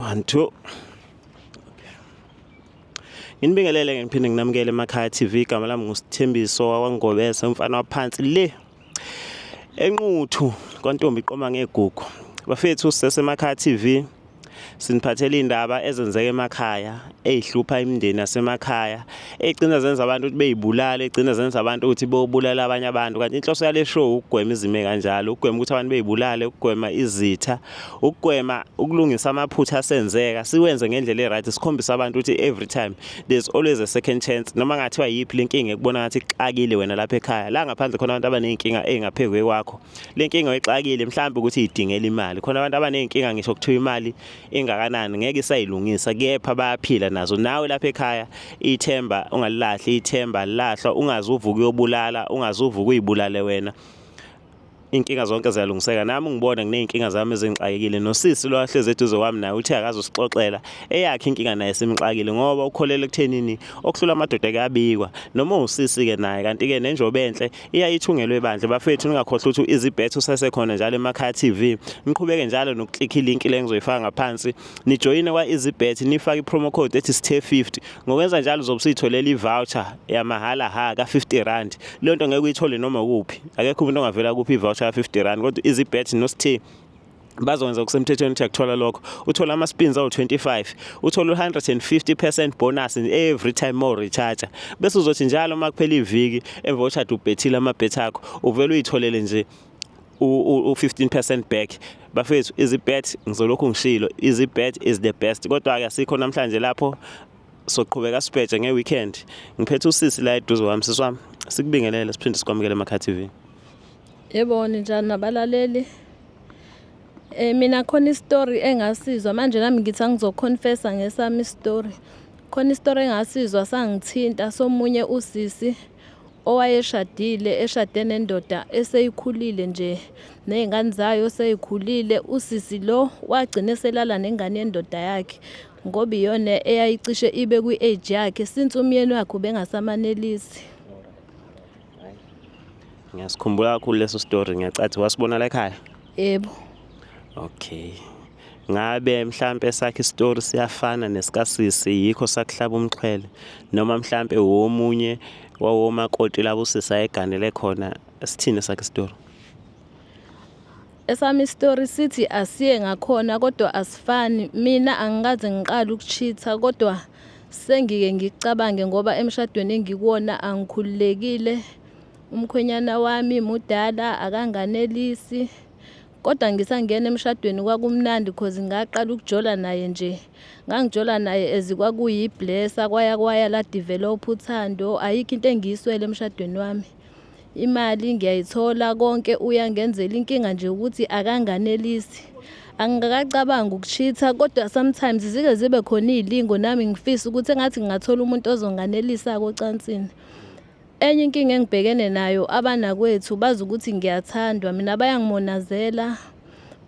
one two nginibingelele ke ngiphinde nginamukele emakhaya TV igama lami ngusithembiso wakwangobese umfana waphansi le enquthu kwantombi iqoma ngegugu bafethu sisesemakhaya TV siniphathela indaba ezenzeka emakhaya ezihlupha imindeni yasemakhaya egcina zenza abantu ukuthi beyibulale egcina zenza abantu ukuthi bobulala abanye abantu kanti inhloso yale show ukugwema izime kanjalo ukugwema ukuthi abantu beyibulale ukugwema izitha ukugwema ukulungisa amaphutha asenzeka siwenze ngendlela e-right sikhombisa abantu ukuthi every time there's always a second chance noma ngathiwa yiphi le nkinga ekubona ngathi ixakile wena lapha ekhaya la ngaphandle khona abantu abaney'nkinga ey'ngaphezu kwakho le nkinga oyixakile mhlawumbe ukuthi idingela imali khona abantu abaney'nkinga ngisho kuthiwa imali ingakanani ngeke isayilungisa kepha bayaphila nazo nawe lapha ekhaya ithemba ungalilahli ithemba lilahlwa ungazi uvuka uyobulala ungazi uvuka uyibulale wena Inkinga zonke ziyalungiseka nami ngibona ngineyinkinga zami ezingixakekile nosisi lo ahlezi eduze kwami naye uthi akazosixoxela eyakhe inkinga naye simxakile ngoba ukholele kuthenini okuhlula amadoda kuyabikwa noma usisi ke naye kanti ke nenjobe enhle iyayithungelwe bandle bafethu ningakhohlwa ukuthi izibhetho sasekhona njalo emakhaya TV niqhubeke njalo nokuklikha ilink le ngizoyifaka ngaphansi nijoyine kwa-EasyBet nifake i-promo code ethi sithe50 ngokwenza njalo uzobe usuyitholela i-voucher yamahhala ha ka-50 rand leyo nto ngeke uyithole noma kuphi akekho umuntu ongavela kuphi i-voucher ka-50 rand kodwa i-EasyBet nosithe bazokwenza okusemthethweni ukuthi akuthola lokho uthola ama-spins awu-25 uthola u-150 percent bonus every time more recharger bese uzothi njalo uma kuphela iviki emva koshada ubhethile amabhethi akho uvele uyitholele nje u-15 percent back bafethu izibet ngizolokhu ngishilo izibet is the best kodwa-ke asikho namhlanje lapho soqhubeka sibheje nge-weekend ngiphethe usisi la eduze wami sisi wami sikubingelele siphinde sikwamukele emakha tv yebo ninjani nabalaleli Eh mina khona istory engasizwa manje nami ngithi angizoconfessa ngesami istory. Khona istory engasizwa sangithinta somunye usisi owayeshadile eshade nendoda eseyikhulile nje nezingane zayo seyikhulile usisi lo wagcina eselala nengane yendoda yakhe ngoba iyona eyayicishe ibe kwi-age yakhe since umyeni wakhe ubengasamanelisi ngiyasikhumbula kakhulu leso story ngiyacathi wasibona la ekhaya Yebo. Okay. Ngabe mhlambe sakhe story siyafana nesikasisi yikho sakuhlaba umxhwele noma mhlambe womunye wawoma koti labo sisa eganele khona sithini sakhe story. Esami story sithi asiye ngakhona kodwa asifani mina angikaze ngiqala ukuchitha kodwa sengike ngicabange ngoba emshadweni engikuwona angikhululekile umkhwenyana wami mudala akanganelisi kodwa ngisangena emshadweni kwakumnandi cause ngaqala ukujola naye nje ngangijola naye ezikwakuyiblessa kwaya kwaya la develop uthando ayikho into engiyiswele emshadweni wami imali ngiyayithola konke uyangenzela inkinga nje ukuthi akanganelisi angikakacabangi ukushitha kodwa sometimes zike zibe khona izilingo nami ngifisa ukuthi engathi ngingathola umuntu ozonganelisa kocansini Enye inkinga engibhekene nayo abanakwethu bazi ukuthi ngiyathandwa mina bayangimonazela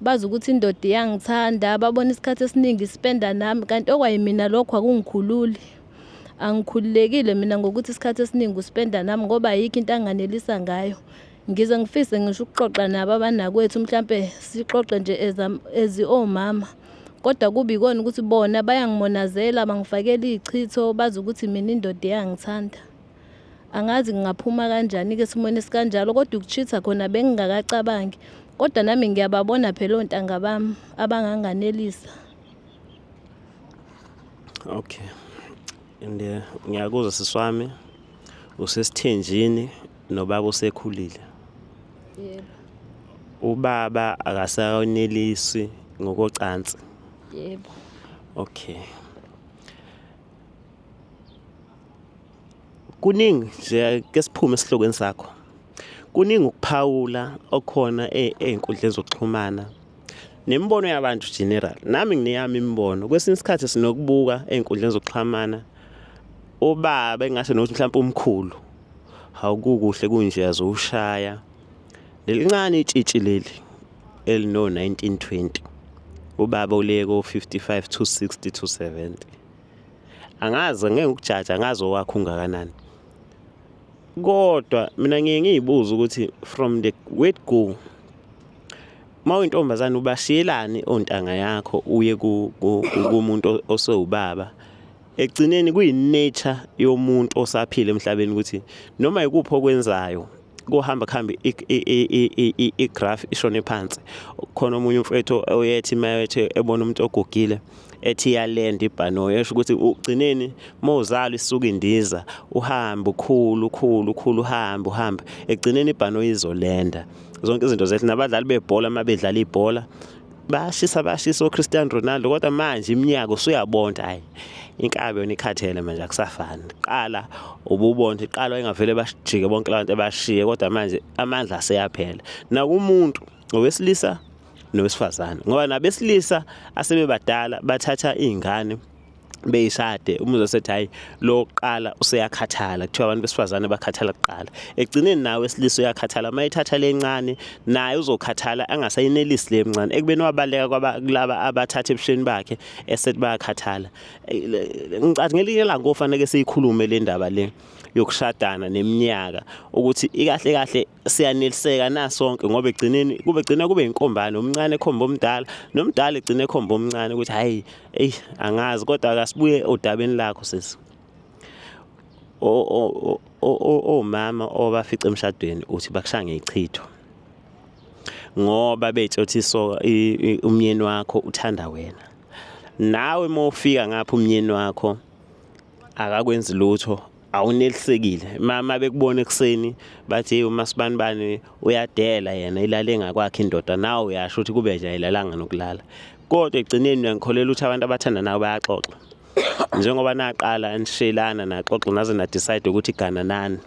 bazi ukuthi indoda iyangithanda babona isikhathi esiningi sipenda nami kanti okwayimina lokho akungikhululi angikhululekile mina ngokuthi isikhathi esiningi usipenda nami ngoba ayikho into anganelisa ngayo ngize ngifise ngisho ukuxoxa nabo abanakwethu mhlampe sixoxe nje ezi omama kodwa kubi kona ukuthi bona bayangimonazela bangifakela izichitho bazi ukuthi mina indoda iyangithanda angazi ngingaphuma kanjani-ke esimweni esikanjalo kodwa ukuchitha khona bengingakacabangi kodwa nami ngiyababona phela ontanga bami abanganganelisa okay and eh, ngiyakuzwa siswami usesithenjini nobaba usekhulile yebo ubaba akasakonelisi ngokocansi yebo okay kuningi nje ke siphume esihlokweni sakho kuningi ukuphawula okhona e-, ey'nkundleni zokuxhumana nemibono yabantu general nami ngineyami imibono kwesinye isikhathi sinokubuka ey'nkundleni zokuxhumana ubaba engasho nokuthi mhlawumpe umkhulu hawukukuhle kunje azowushaya lelincane itshitshi leli elino-1920 ubaba uliye ko-55 to 60 to 70 angazi ngeke ukujaja angazi owakho ungakanani kodwa mina ngiye ngiyibuza ukuthi from the word go uma uyintombazane ubashiyelani ontanga yakho uye kumuntu osewubaba Ekugcineni kuyi-nature yomuntu osaphila emhlabeni ukuthi noma yikuphi okwenzayo kuhamba kuhambe igraph ishone phansi khona omunye umfethu oyethi mayethi ebona umuntu ogugile ethi iyalenda ibhanoyi esho ukuthi ugcineni uma uzalwa isuke indiza uhambe ukhulu ukhulu ukhulu uhambe uhambe egcineni ibhanoyi izolenda zonke izinto zethu nabadlali bebhola uma bedlala ibhola bayashisa bayashisa oCristiano Ronaldo kodwa manje iminyaka usuyabonda hayi inkabi yona ikhathele manje akusafani qala ububonda iqala wayengavele bashijike bonke labantu abashiye kodwa manje amandla aseyaphela nakumuntu owesilisa nowesifazane ngoba nabesilisa asebebadala bathatha izingane beyishade umuzwa sethi hayi lo qala useyakhathala kuthiwa abantu besifazane bakhathala kuqala ekugcineni nawe esilisa uyakhathala uma ithatha lencane naye uzokhathala angasayinelisi le mncane ekubeni wabaleka kwabalaba abathatha ebusheni bakhe esethi bayakhathala ngicathi ngelinye ilanga kofanele siyikhulume le ndaba le yokushadana neminyaka ukuthi ikahle kahle siyaneliseka na sonke ngoba egcineni kube gcina kube inkombane umncane ekhomba omdala nomdala egcina ekhomba omncane ukuthi hayi ey angazi kodwa akasibuye odabeni lakho sisi o o o omama obafica emshadweni uthi bakushaya ngechitho ngoba betshe uthi so umyeni wakho uthanda wena nawe uma ufika ngapha umyeni wakho akakwenzi lutho awunelisekile mama bekubona ekuseni bathi hey uma sibanibani uyadela yena ilale ngakwakhe indoda nawe uyasho ukuthi kube nje ayilalanga nokulala kodwa egcineni uyangikholela ukuthi abantu abathandanayo bayaxoxa njengoba naqala nishelana naxoxa naze na decide ukuthi igana nani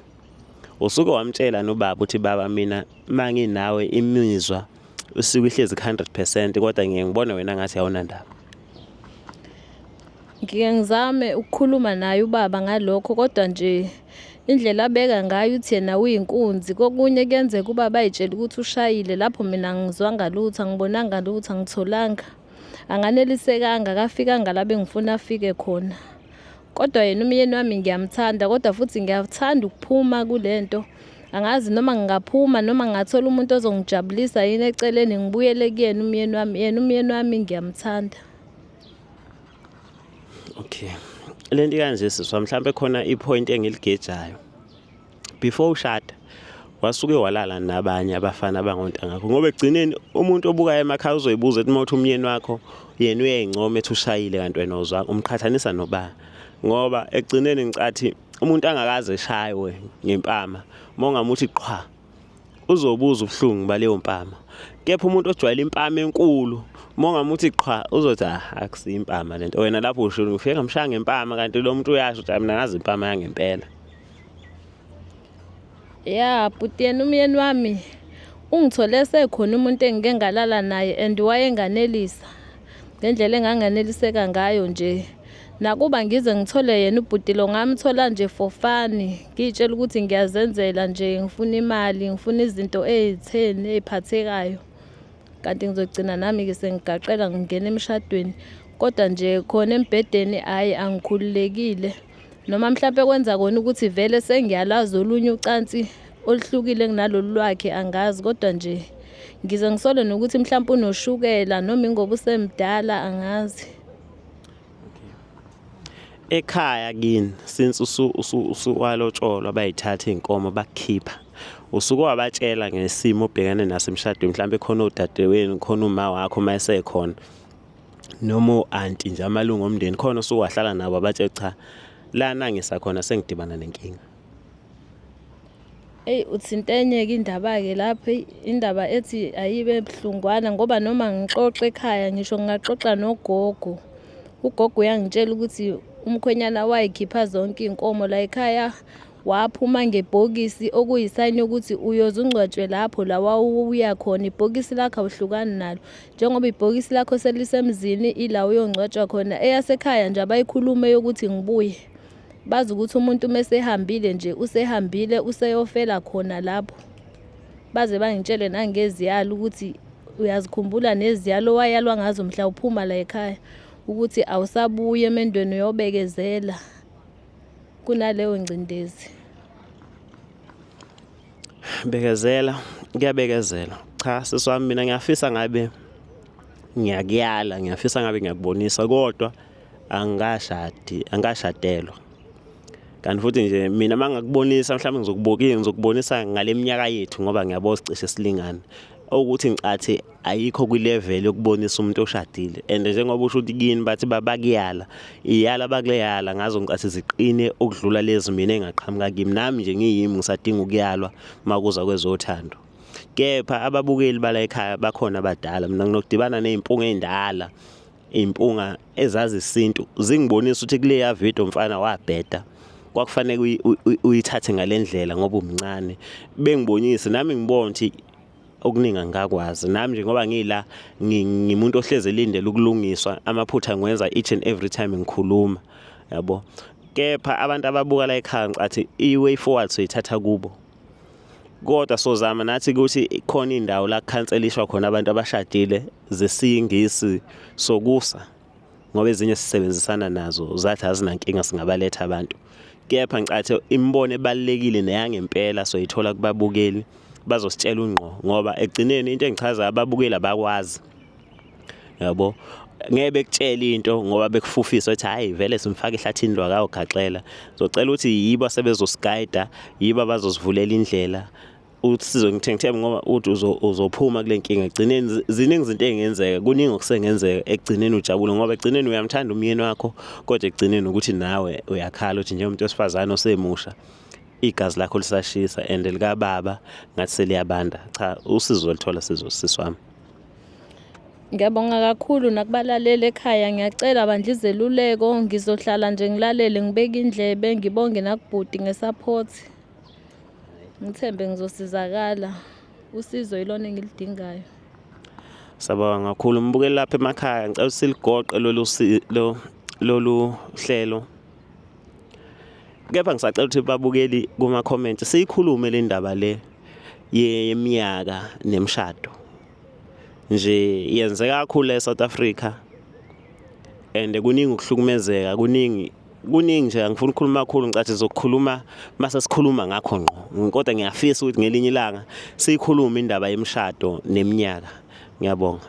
usuke wamtshela nobaba ukuthi baba mina manginawe imizwa usuke ihlezi ku-hundred percent kodwa ngiye ngibone wena ngathi awunandaba ngike ngizame ukukhuluma naye ubaba ngalokho kodwa nje indlela abeka ngayo uthi yena uyinkunzi kokunye kuyenzeka ubaba ayitshela ukuthi ushayile lapho mina ngizwanga lutho angibonanga lutho angitholanga anganelisekanga akafikanga la bengifuna afike khona Kodwa yena umyeni wami ngiyamthanda kodwa futhi ngiyathanda ukuphuma kule nto. Angazi noma ngingaphuma noma ngingathola umuntu ozongijabulisa yini eceleni ngibuyele kuyena umyeni wami. Yena umyeni wami ngiyamthanda. Okay. Le nto ikanje siswa mhlawumbe khona i-point engiligejayo. before ushada wasuke walala nabanye abafana abangontangakho ngoba ekugcineni umuntu obukayo emakhaya uzoyibuza ethi mawuthi umyeni wakho yena uyayincoma ethi ushayile kanti wena uzwanga umqhathanisa nobani ngoba ekugcineni ngicathi umuntu angakaze eshaywe ngempama uma ungamuthi qhwa uzobuza ubuhlungu baleyo mpama kepha umuntu ojwayele impama enkulu uma ungamuthi qhwa uzothi ah, akusiyo impama lento wena lapho usho ufike ngamshaya ngempama kanti lo muntu uyasho ukuthi mina ngazi impama yangempela ya bhuti yena umyeni wami ungithole sekhona umuntu engike ngalala naye and wayenganelisa ngendlela enganganeliseka ngayo nje nakuba ngize ngithole yena ubhuti lo ngamthola nje for fani ngiyitshela ukuthi ngiyazenzela nje ngifuna imali ngifuna izinto ezitheni eziphathekayo kanti ngizogcina nami-ke sengigaqela ngingena emshadweni kodwa nje khona embhedeni hhayi angikhululekile noma mhlawumpe kwenza kona ukuthi vele sengiyalazi olunye ucansi oluhlukile kunalolu lwakhe angazi kodwa nje ngize ngisole nokuthi mhlawumpe unoshukela noma ingoba usemdala angazi ekhaya kini since usu usu usuwalotsholwa bayithatha inkomo bakhipha usuke wabatshela ngesimo obhekane naso emshadweni mhlawumbe khona odadewenu khona uma wakho uma esekhona noma o-anti nje amalungu omndeni khona osuke wahlala nabo abathe cha lana ngisakhona sengidibana nenkinga eyi uthintenyeke indaba-ke lapho indaba ethi ayibe buhlungwana ngoba noma ngixoxa ekhaya ngisho ngingaxoxa nogogo ugogo uyangitshela ukuthi umkhwenyana wayikhipha zonke iy'nkomo la ekhaya waphuma ngebhokisi okuyisayini yokuthi uyoze ungcwatshwe lapho la wawuya khona ibhokisi lakho awuhlukani nalo njengoba ibhokisi lakho selisemzini ila uyongcwatshwa khona eyasekhaya nje abayikhulume yokuthi ngibuye bazi ukuthi umuntu uma esehambile nje usehambile useyofela khona lapho baze bangitshele nangeziyalo ukuthi uyazikhumbula neziyalo wayalwa ngazo mhla uphuma la ekhaya ukuthi awusabuye emendweni uyobekezela kunaleyo ngcindezi bekezela kuyabekezela cha sisi wami mina ngiyafisa ngabe ngiyakuyala ngiyafisa ngabe ngiyakubonisa kodwa angikashadi angikashadelwa kanti futhi nje mina uma ngakubonisa mhlawumbe ngizokubukile ngizokubonisa ngale minyaka yethu ngoba ngiyabo sicishe silingana okuthi ngicathi ayikho kwilevel yokubonisa umuntu oshadile and njengoba usho ukuthi kini bathi babakuyala iyala bakuleyala ngazo ngicathi ziqine ukudlula lezi mina engaqhamuka kimi nami nje ngiyimi ngisadinga ukuyalwa makuza kwezothando kepha ababukeli bala ekhaya bakhona abadala mina nginokudibana nezimpunga endala impunga ezazi isintu zingibonisa ukuthi kuleya video mfana wabheda kwakufanele uyithathe ngalendlela ngoba umncane bengibonise nami ngibona ukuthi okuningi angikakwazi nami nje ngoba ngila ngimuntu ohleze elindele ukulungiswa amaphutha ngiwenza each and every time ngikhuluma yabo kepha abantu ababuka la ekhaya ngicathi i-way forward soyithatha kubo kodwa sozama nathi ukuthi khona indawo la khanselishwa khona abantu abashadile zesingisi sokusa ngoba ezinye sisebenzisana nazo zathi azinankinga singabaletha abantu kepha ngicathe imibono ebalekile neyangempela soyithola kubabukeli bazositshela ungqo ngoba egcineni into engichaza ababukeli abakwazi yabo ngeke bekutshela into ngoba bekufufisa ukuthi hayi vele simfaka ehlathini lwakawugaxela ngizocela ukuthi yibo asebezosigayida yibo abazosivulela indlela ukuthi sizongithenga ithemba ngoba uthi uzophuma kule nkinga egcineni ziningi izinto engenzeka kuningi okusengenzeka ekugcineni ujabule ngoba ekugcineni uyamthanda umyeni wakho kodwa ekugcineni ukuthi nawe uyakhala ukuthi njengomuntu wesifazane osemusha igazi lakho lisashisa and likababa ngathi seliyabanda cha usizo olithola sizosisi wami Ngiyabonga kakhulu nakubalaleli ekhaya ngiyacela bandla izeluleko ngizohlala nje ngilalele ngibeke indlebe ngibonge nakubhuti ngesupport. ngithembe ngizosizakala usizo yilona engilidingayo sabanga kakhulu mbukeli lapha emakhaya ngicela siligoqe lolu lolu hlelo kepha ngisacela ukuthi babukeli kuma comment siyikhulume le ndaba le yeminyaka nemshado nje yenzeka kakhulu eSouth Africa and kuningi ukuhlukumezeka kuningi kuningi nje angifuni ukukhuluma kakhulu ngicathi zokukhuluma mase sikhuluma ngakho ngqo kodwa ngiyafisa ukuthi ngelinye ilanga siyikhulume indaba yemshado neminyaka ngiyabonga